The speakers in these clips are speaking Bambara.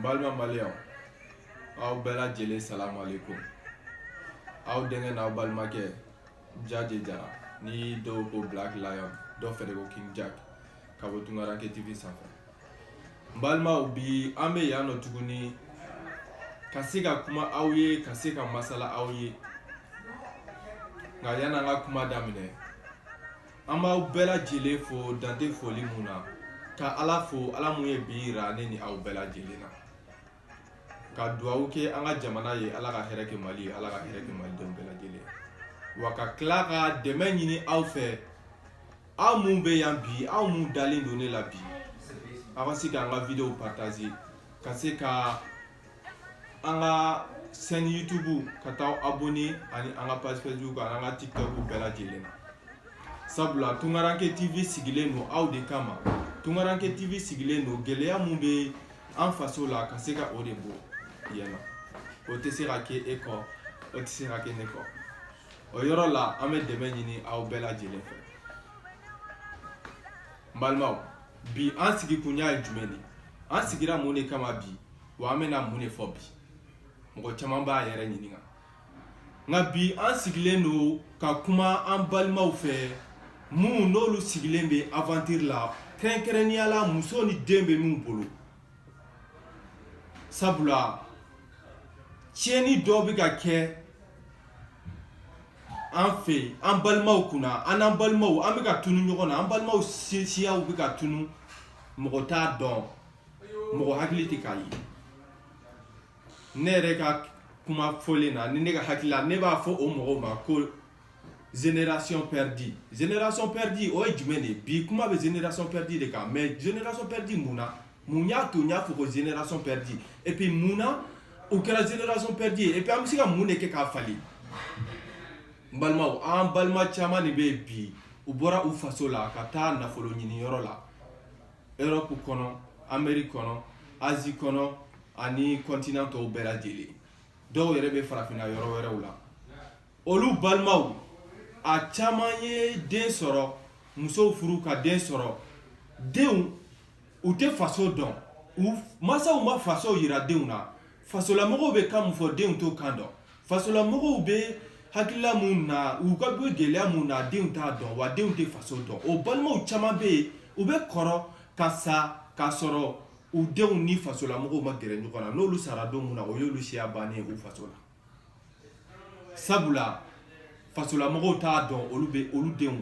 balima maliyɛnw aw bɛɛ lajɛlen salamu aleykum aw denkɛ n'aw balimakɛ jaje jara ni dɔw ko black lion dɔw fɛnɛ ko king jack ka bɔ tungaranke tv sanfɛ n balimaw bi an bɛ yan nɔ tuguni ka se ka kuma aw ye ka se ka masala aw ye nka yanni an ka kuma daminɛ an b'aw bɛɛ lajɛlen fo dan tɛ foli mun na ka ala fo ala mun ye bi yira ne ni aw bɛɛ lajɛlen na ka dugawu kɛ an ka jamana ye ala ka hɛrɛ kɛ mali ye ala ka hɛrɛ kɛ malidenw bɛɛ lajɛlen wa ka tila ka dɛmɛ ɲini aw fɛ aw mun bɛ yan bi aw mun dalen don ne la bi aw ka se k'an ka videow partager ka se ka an ka chaîne youtube ka taa abonné ani an ka page facebook ani an ka tiktok bɛɛ lajɛlen na sabula tungaranke tv sigilen don aw de kama tungaranke tv sigilen don gɛlɛya mun bɛ an faso la ka se ka o de bɔ yen nɔ o tɛ se ka kɛ e kɔ o tɛ se ka kɛ ne kɔ o yɔrɔ la an bɛ dɛmɛ ɲini aw bɛɛ lajɛlen fɛ n balimaw bi an sigikunya ye jumɛn de an sigira mun de kama bi wa an bɛna mun de fɔ bi mɔgɔ caman b'a yɛrɛ ɲininka nka bi an sigilen don ka kuma an balimaw fɛ minnu n'olu sigilen bɛ aventure la kɛrɛnkɛrɛnnenya la muso ni den bɛ min bolo sabula tiɲɛni dɔ bɛ ka kɛ an fɛ an balimaw kunna an n'an balimaw an bɛ ka tunu ɲɔgɔn na an balimaw siyaw bɛ ka tunu mɔgɔ t'a dɔn mɔgɔ hakili tɛ k'a ye ne yɛrɛ ka kuma fɔlen na ni ne ka hakili la ne b'a fɔ o mɔgɔw ma ko Génération perdue génération perdue o ye jumɛn de ye bi kuma bɛ génération perdue de kan mais génération perdue mun na mun y'a to n y'a fɔ ko génération perdue et puis mun na o kɛra génération perdue ye et puis an bɛ se ka mun de kɛ k'a falen n balimaw an balima caman de bɛ yen bi u bɔra u faso la ka taa nafolo ɲini yɔrɔ la Europe kɔnɔ Amérique kɔnɔ Asie kɔnɔ ani continent tɔw bɛɛ lajɛlen dɔw yɛrɛ bɛ farafinna yɔrɔ wɛrɛw la olu balimaw a caman ye den sɔrɔ musow furu ka den sɔrɔ denw u tɛ faso dɔn u masaw ma faso yira denw na fasolamɔgɔw bɛ kan mun fɔ denw t'o kan dɔn fasolamɔgɔw bɛ hakilila mun na u ka bɛ gɛlɛya mun na denw t'a dɔn wa denw tɛ faso dɔn o balimaw caman bɛ yen u bɛ kɔrɔ ka sa k'a sɔrɔ u denw ni fasolamɔgɔw ma gɛrɛ ɲɔgɔn na n'olu sara don mun na o y'olu siya bannen ye u faso la sabula fasolamɔgɔw t'a dɔn olu bɛ olu denw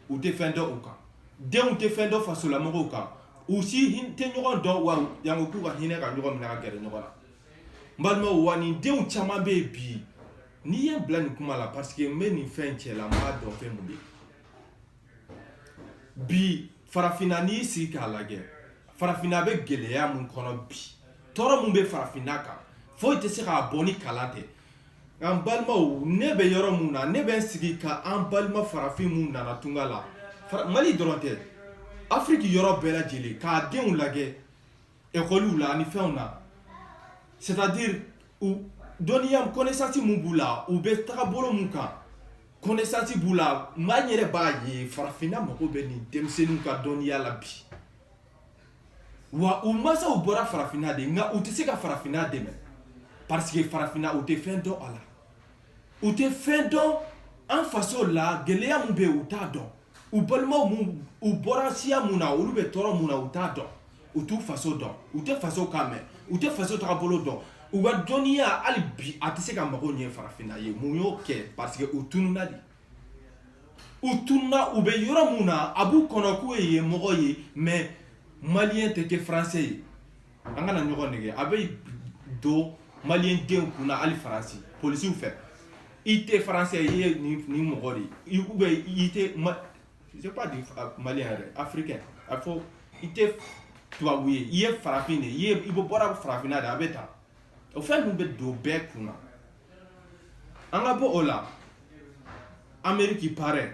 u tɛ fɛn dɔn u kan denw tɛ fɛn dɔn fasolamɔgɔw kan u si hin- tɛ ɲɔgɔn dɔn wa yango k'u ka hinɛ ka ɲɔgɔn minɛ ka gɛrɛ ɲɔgɔn na n balimaw wa nin denw caman bɛ yen bi n'i ye n bila nin kuma la parce que n bɛ nin fɛn cɛ la n b'a dɔn fɛn mun bɛ yen bi farafinna n'i y'i sigi k'a lajɛ farafinna bɛ gɛlɛya mun kɔnɔ bi tɔɔrɔ mun bɛ farafinna kan foyi tɛ se k'a bɔ ni kalan tɛ an balimaw ne bɛ yɔrɔ mun na ne bɛ n sigi ka an balima farafin mun nana tunga la mali dɔrɔn tɛ afiriki yɔrɔ bɛɛ lajɛlen k'a denw lajɛ ekɔliw la ani fɛnw na c'est à dire dɔnniya connaissance mun b'u la u bɛ tagabolo mun kan connaissance b'u la maa n yɛrɛ b'a ye farafinna mago bɛ nin denmisɛnninw ka dɔnniya la bi wa u masaw bɔra farafinna de nka u tɛ se ka farafinna dɛmɛ parce que farafinna u tɛ fɛn dɔn a la u tɛ fɛn dɔn an faso la gɛlɛya min bɛ yen u t'a dɔn u balimaw minnu u bɔra siya mun na olu bɛ tɔɔrɔ mun na u t'a dɔn u t'u faso dɔn u tɛ faso kan mɛn u tɛ faso tagabolo dɔn u ka dɔnniya hali bi a tɛ se ka mago ɲɛ farafinna ye mun y'o kɛ parce que u tununa de u tununa u bɛ yɔrɔ mun na a b'u kɔnɔ k'u ye yen mɔgɔ ye mais maliyɛn tɛ kɛ français ye an kana ɲɔgɔn nɛgɛ a bɛ don maliyɛn denw kun na hali faransi polisiw fɛ i tɛ français i ye nin mɔgɔ de ye i- ou bien i tɛ ma je sais pas dire maliyɛn yɛrɛ africain a fɔ i tɛ tubabu ye i ye farafin de ye i bɔra farafinna de a bɛ tan o fɛn ninnu bɛ don bɛɛ kun na an ka bɔ o la ameriki pareil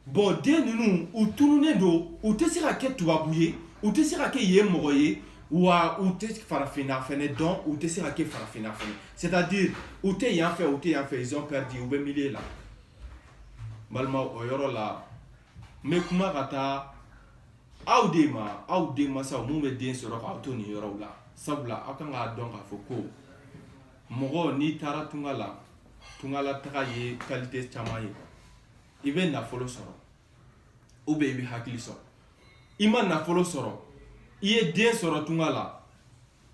bon den ninnu u tununnen don u tɛ se ka kɛ tubabu ye u tɛ se ka kɛ yen mɔgɔ ye wa u tɛ farafinna fɛnɛ dɔn u tɛ se ka kɛ farafinna fɛnɛ c'est à dire u tɛ yan fɛ u tɛ yan fɛ ils ont perdu u bɛ milieu la balima o yɔrɔ la n bɛ kuma ka taa aw de ma aw den masaw minnu bɛ den sɔrɔ k'aw to nin yɔrɔw la sabula aw kan k'a dɔn k'a fɔ ko mɔgɔ n'i taara tunga la tungala taga ye qualité caman ye i bɛ nafolo sɔrɔ ou bien i bɛ hakili sɔrɔ i ma nafolo sɔrɔ i ye den sɔrɔ tunga la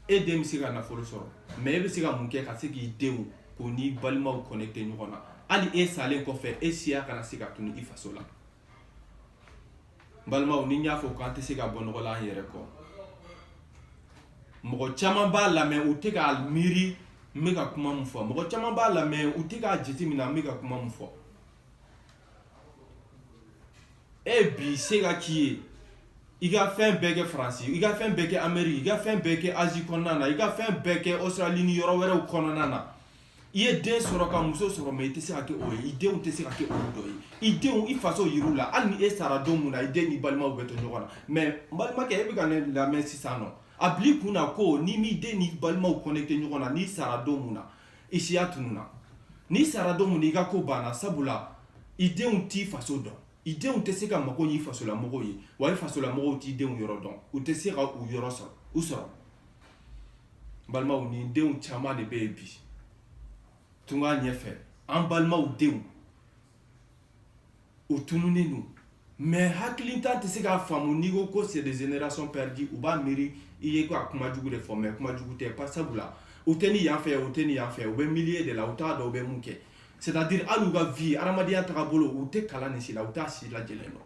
e den bɛ se ka nafolo sɔrɔ mais e bɛ se ka mun kɛ ka se k'i denw k'u n'i balimaw connecter ɲɔgɔn na hali e salen kɔfɛ e siya kana se ka tunu i faso la balimaw ni n y'a fɔ k'an tɛ se ka bɔ nɔgɔ la an yɛrɛ kɔ mɔgɔ caman b'a lamɛn u tɛ k'a miiri n bɛ ka kuma min fɔ mɔgɔ caman b'a lamɛn u tɛ k'a jateminɛ n bɛ ka kuma min fɔ e bi se ka k'i ye i ka fɛn bɛɛ kɛ faransi i ka fɛn bɛɛ kɛ ameriki i ka fɛn bɛɛ kɛ azi kɔnɔna na i ka fɛn bɛɛ kɛ australie ni yɔrɔ wɛrɛw kɔnɔna na I ye den sɔrɔ ka muso sɔrɔ mais i tɛ se ka kɛ o ye i denw tɛ se ka kɛ dɔ ye i denw i faso yir'u la hali ni e sara don min na i den ni balimaw bɛ to ɲɔgɔn na mais n balimakɛ e bɛ ka ne lamɛn sisan nɔ a bil'i kun na ko n'i m'i den n'i balimaw connecter ɲɔgɔn na n'i sara don min na i siya tununa n'i sara don min i ka ko banna sabula i denw t'i faso dɔn i denw tɛ se ka mako ɲɛ fasolamɔgɔw ye wa i fasolamɔgɔw t'i denw yɔrɔ dɔn u tɛ se ka u yɔrɔ sɔrɔ u sɔrɔ balimaw nin denw caman de bɛ yen bi tunga ɲɛfɛ an balimaw denw u tununnen don mais hakilitan tɛ se k'a faamu n'i ko ko c'est des générations perdues u b'a miiri i ye ka kuma jugu de fɔ mais kuma jugu tɛ pas sabula u tɛ ni yan fɛ u tɛ ni yan fɛ u bɛ milieu de la u t'a dɔn u bɛ mun kɛ c'est à dire hali u ka vie hadamadenya tagabolo u tɛ kalan nin si la u t'a si lajɛlen dɔn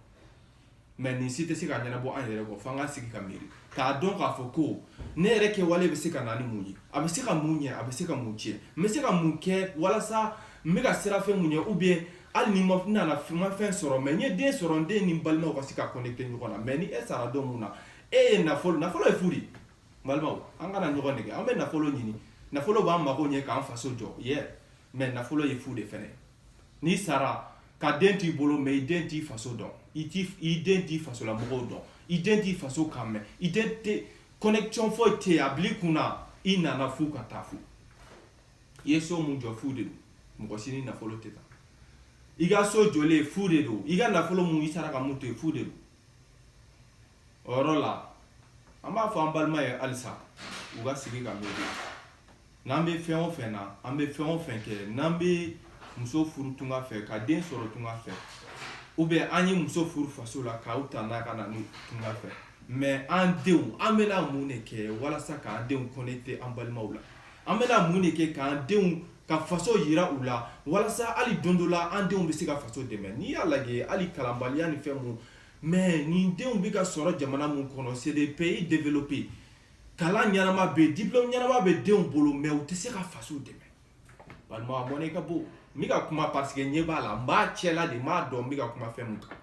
mais nin si tɛ se ka ɲɛnabɔ an yɛrɛ kɔ fo an ka sigi ka miiri k'a dɔn k'a fɔ ko ne yɛrɛ kɛwale bɛ se ka na ni mun ye a bɛ se ka mun ɲɛ a bɛ se ka mun tiɲɛ n bɛ se ka mun kɛ walasa n bɛ ka siran fɛn mun ɲɛ ou bien hali ni ma nana ma fɛn sɔrɔ mais n ye den sɔrɔ n den ni n balimaw ka se ka connecter ɲɔgɔn na mais ni e sara don mun na e ye nafolo nafolo ye fu de balimaw an kana ɲɔgɔn nɛgɛn an bɛ nafolo ɲini nafolo b'an mago ɲɛ k'an faso jɔ yɛ mais nafolo ye fu de fana n'i sara ka den t'i bolo mais i den t'i faso dɔn i den t'i fasolamɔgɔw dɔn i den t'i faso kan mɛn i den tɛ connection foyi tɛ yen a bil'i kun na i nana fu ka taa fu i ye so mun jɔ fu de don mɔgɔ si ni nafolo tɛ taa i ka so jɔlen fu de don i ka nafolo mun i sara ka mun to yen fu de don o yɔrɔ la an b'a fɔ an balima ye halisa u ka sigi ka miiri n'an bɛ fɛn o fɛn na an bɛ fɛn o fɛn kɛ n'an bɛ muso furu tunga fɛ ka den sɔrɔ tunga fɛ ou bien an ye muso furu faso la k'aw ta n'a ka na ni tunga fɛ mais an denw an bɛna mun de kɛ walasa k'an denw connecter an balimaw la an bɛna mun de kɛ k'an denw ka faso yira u la walasa hali don dɔ la an denw bɛ se ka faso dɛmɛ n'i y'a lajɛ hali kalanbaliya ni fɛn mun Mɛ nin denw bɛ ka sɔrɔ jamana min kɔnɔ c'est des pays développés kalan ɲɛnama bɛ yen diplôme ɲɛnama bɛ denw bolo mɛ u tɛ se ka faso dɛmɛ balima a mɔnɛ ka bon n bɛ ka kuma parce que ɲɛ b'a la n b'a cɛla de n b'a dɔn n bɛ ka kuma fɛn min kan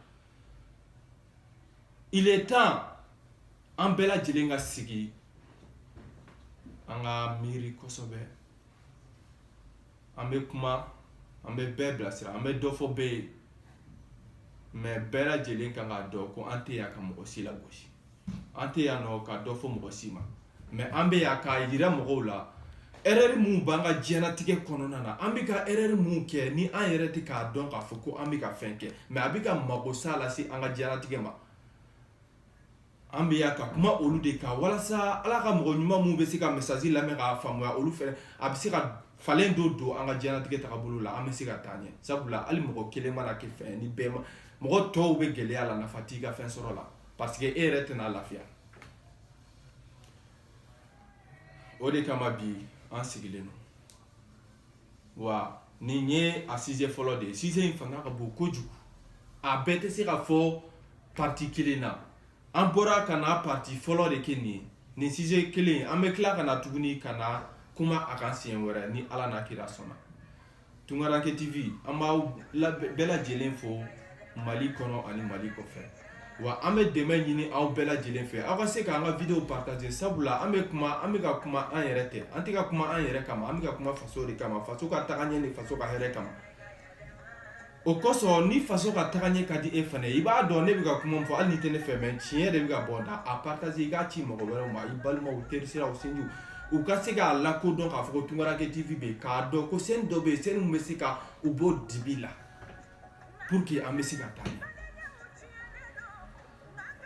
il est temps an bɛɛ lajɛlen ka sigi an ka miiri kosɛbɛ an bɛ kuma an bɛ bɛɛ bilasira an bɛ dɔ fɔ bɛɛ ye mɛ bɛɛ lajɛlen kan k'a dɔn ko an tɛ yan ka mɔgɔ si lagosi an tɛ yan nɔ ka dɔ fɔ mɔgɔ si ma mɛ an bɛ yan k'a yira mɔgɔw la erɛri minnu b'an ka diɲɛnatigɛ kɔnɔna na an bɛ ka erɛri minnu kɛ ni an yɛrɛ tɛ k'a dɔn k'a fɔ ko an bɛ ka fɛn kɛ mɛ a bɛ ka magosa lase an ka diɲɛnatigɛ ma an bɛ yan ka kuma olu de kan walasa ala ka mɔgɔ ɲuman minnu bɛ se ka message lamɛn k'a faamuya olu fɛ a bɛ se ka falen dɔ don an ka diɲɛnatigɛ tagabolo la an bɛ se ka taa ɲɛ sabula hali mɔgɔ kelen mana kɛ fɛn ni bɛɛ ma mɔgɔ tɔw bɛ gɛlɛya la nafa t'i ka fɛn sɔrɔ la parce que e yɛrɛ tɛna lafiya o de kama bi an sigilen don wa nin ye a size fɔlɔ de ye size in fanga ka bon kojugu a bɛɛ tɛ se ka fɔ parti kelen na an bɔra ka na parti fɔlɔ de kɛ nin ye nin size kelen an bɛ tila ka na tuguni ka na kuma a kan siɲɛ wɛrɛ ni ala n'a kira sɔnna tunkaranke tv an b'aw bɛɛ lajɛlen fo mali kɔnɔ ani mali kɔfɛ wa an bɛ dɛmɛ ɲini aw bɛɛ lajɛlen fɛ aw ka se k'an ka videow partager sabula an bɛ kuma an bɛ ka kuma an yɛrɛ tɛ an tɛ ka kuma an yɛrɛ kama an bɛ ka kuma faso de kama faso ka tagaɲɛ ni faso ka hɛrɛ kama o kosɔn ni faso ka tagaɲɛ ka di e fana i b'a dɔn ne bɛ ka kuma min fɔ hali n'i tɛ ne fɛ mɛ tiɲɛ de bɛ ka bɔ da a partager i k'a ci mɔgɔ wɛrɛw ma i balimaw terisiraw sinjiw u ka se k'a lakodɔn k'a fɔ ko tunkaranke tv bɛ yen k'a dɔn ko sɛni dɔ bɛ yen sɛni min bɛ se ka u bɔ dibi la pour que an bɛ se ka taa ɲɛ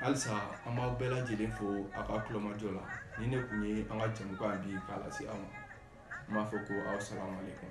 halisa an b'aw bɛɛ lajɛlen fo a ka tulomajɔ la nin de kun ye an ka jɛmukan bi k'a lase aw ma n b'a fɔ ko aw salamu aleykum